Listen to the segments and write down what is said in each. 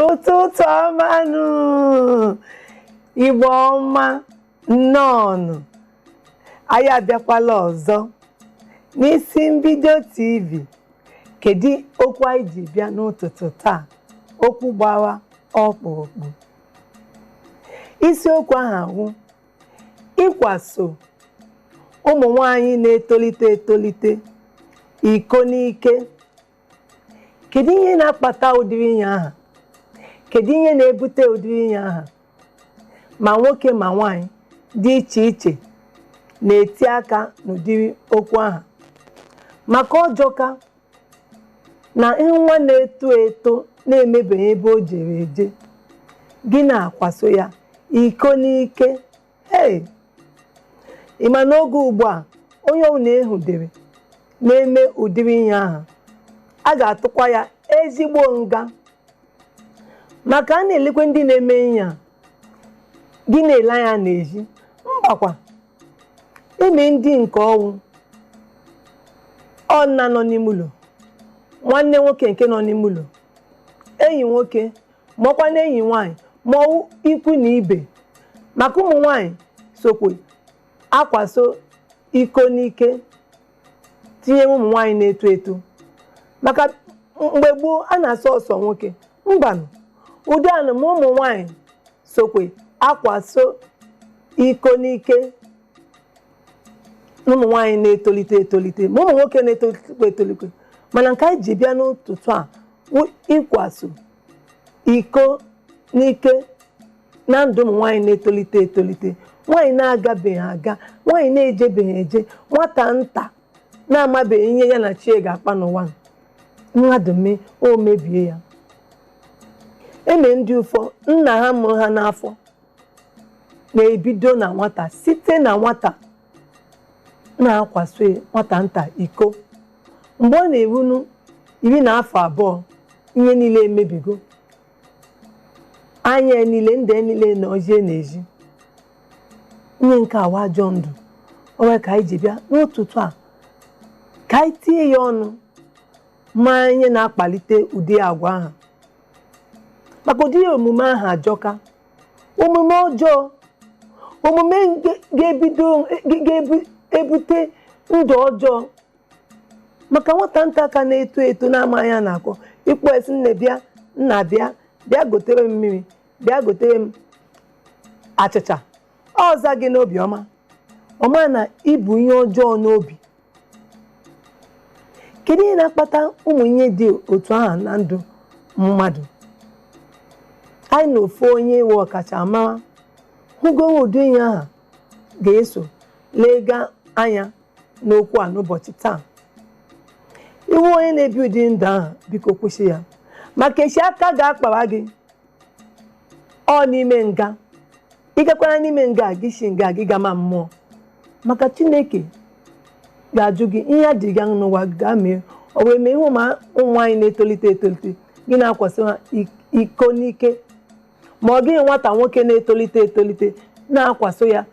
ụtụtụ ọmanụ igbo ọma nnọọnụ anyị abịakwala ọzọ n'isi mbido tv kedu okwu anyị ji bịa n'ụtụtụ taa okwu gbara ọkpụrụkpụ isiokwu ahụ awụ ịkwaso ụmụ nwanyị na-etolite etolite iko n'ike kedu ihe na-akpata ụdịrị ihe ahụ kedu ihe na-ebute ụdịrị ihe ahụ ma nwoke ma nwanyị dị iche iche na-eti aka n'ụdịrị okwu ahụ maka ọ jọka na nwa na-eto eto na-enwebeghị ebe o jere eje gị na-akwaso ya iko n'ike hey ị ma n'oge ugbu a onye ọbụla e nwudere na-eme ụdịrị ihe ahụ a ga-atụkwa ya ezigbo nga maka a na-elekwa ndị na-eme ihe a gị na-ele anya n'ezi mbakwa e nwe ndị nke ọ wụ ọ nna nọ n'ime ụlọ nwanne nwoke nke nọ n'ime ụlọ enyi nwoke ma ọ kwanụ enyi nwaanyị ma ọ wụ ikwu na ibe maka ụmụ nwaanyị sokwu akwaso iko n'ike tinye ụmụ nwaanyị na-eto eto maka mgbe gboo a na-asị ọ sọ nwoke mbanụ ugbu a nụ ma ụmụ nwaanyị sokwu akwaso iko n'ike ụmụ nwaanyị na-etolite etolite ma ụmụ nwoke na-etolite etolite mana nke anyị ji bịa n'ụtụtụ a wụ ịkwaso iko n'ike na ndụ ụmụ nwaanyị na-etolite etolite nwaanyị na-agabeghị aga nwaanyị na-ejebeghị eje nwata nta na-amabeghị ihe ya na chi ya ga-akpa n'ụwa a. mmadụ mee o mebie ya e nwe ndị ụfọ nna ha mụrụ ha n'afọ na-ebido na nwata site na nwata na-akwaso nwata nta iko mgbe ọ na-erunu iri na afọ abụọ ihe niile emebigo anya niile ndị niile na ozie na-ezi ihe nke a wụ ajọ ndụ ọ wụ ya ka anyị ji bịa n'ụtụtụ a ka anyị tinye ya ọnụ ma ihe na-akpalite ụdị agwa ahụ maka ụdị omume ahụ ajọka omume ọjọọ omume ga- ga-ebido ga- ga-ebu- ebute ndụ ọjọọ maka nwata nta ka na-eto eto na-amaghị ihe a na-akọ ị kpọọ ya sị nne bịa nna bịa bịa gotere m mmiri bịa gotere m achịcha ọ za gị n'obi ọma ọ maha na i bu ihe ọjọọ n'obi kedu ihe na-akpata ụmụ ihe dị otu ahụ na ndụ mmadụ anyị na ofu onye wụ ọkachamara hụgoro ụdị ihe ahụ ga-eso lega anya n'okwu a n'ụbọchị taa ị wụ onye na-ebi ụdị ndụ ahụ biko kwụsị ya maka echi aka ga-akpara gị ọ n'ime nga ị gakwara n'ime nga gị si nga gị gama mmụọ maka chineke ga-ajụ gị ihe a dịrị gị n'ụwa gaa mee ọ wee mee ihe ụmụ nwaanyị na-etolite etolite gị na-akwasị ha iko n'ike ma ọ gịghị nwata nwoke na-etolite etolite na-akwaso ya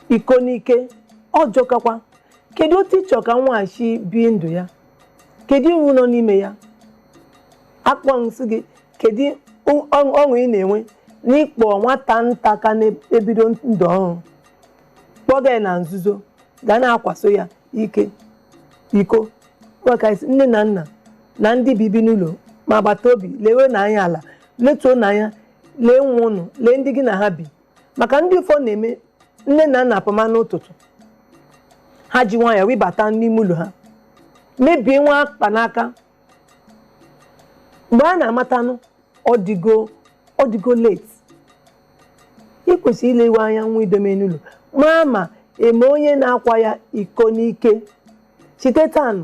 iko n'ike ọ jọkakwa kedu otu ị chọrọ ka nwa ahụ si bie ndụ ya kedu uru nọ n'ime ya akpọ nsị gị kedu ọ- ọ- ọṅụ ị na-enwe n'ịkpọ nwata nta ka na-ebido ndụ ọhụrụ kpọga ya na nzuzo ga na-akwaso ya ike iko maka isi nne na nna na ndị bibi n'ụlọ ma agbata obi lewenụ anya ala letuonụ anya lee nwa unu lee ndị gị na ha bi maka ndị ụfọdụ na-eme nne na nna apụma n'ụtụtụ ha ji nwayọọ rịbata n'ime ụlọ ha mebie nwa akpa n'aka mgbe a na-amatanụ ọ dịgo ọ dịgo late ị kwesịrị ilewe anya nwa i dome n'ụlọ maa ma e nwe onye na-akwa ya iko n'ike site tanụ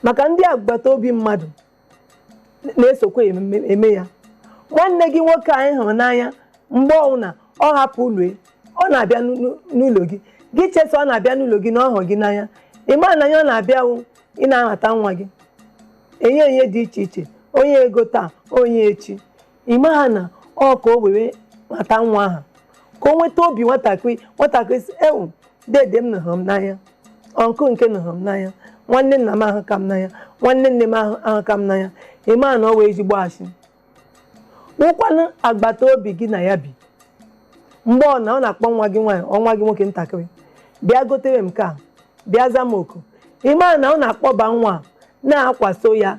maka ndị agbata obi mmadụ na-esokwa eme eme ya nwanne gị nwoke a ị hụrụ n'anya mgbe ọbụla ọ hapụ ụlọ ya, ọ na-abịa n'ụ- n'ụ- n'ụlọ gị gị chee sị ọ na-abịa n'ụlọ gị na ọ hụrụ gị n'anya ị maha na ihe ọ na-abịa wụ ị na-anata nwa gị onyinye dị iche iche o nye ego taa o nye echi ị maha na ọ ka o were mata nwa ahụ ka o nweta obi nwatakịrị nwatakịrị sị ewoo dede m nụ hụrụ m n'anya uncle nke nụ hụrụ m n'anya nwanne nna m ahụka m n'anya nwanne nne m ahụ ahụka m n'anya ị maha na ọ wụ ezigbo asị ọ wụkwanụ agbata obi gị na ya bi mgbe ọ na ọ na-akpọ nwa gị nwaanyị ọ nwa gị nwoke ntakịrị bịa gotere m nke a bịa za m oku ị maha na ọ na-akpọba nwa a, na-akwaso ya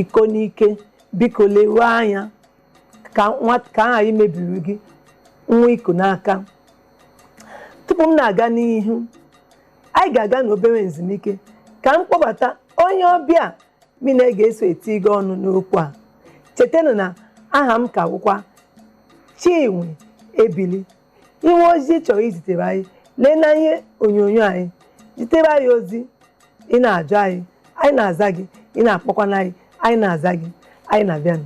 iko n'ike biko lewe anya ka nwa ka a hara imebiri gị nwa i ku n'aka tupu m na-aga n'ihu anyị ga-aga n'obere nzumike ka m kpọbata onye ọbịa mụ na ya ga-eso etinye ọnụ n'okwu a chetanụ na aha m ka bụkwa Chinwe Ebili i nwee ozi ị chọrọ izitere anyị lee n'ihe onyonyo anyị zitere anyị ozi ị na-ajụ anyị anyị na-aza gị ị na-akpọkwana anyị anyị na-aza gị anyị na-abịanụ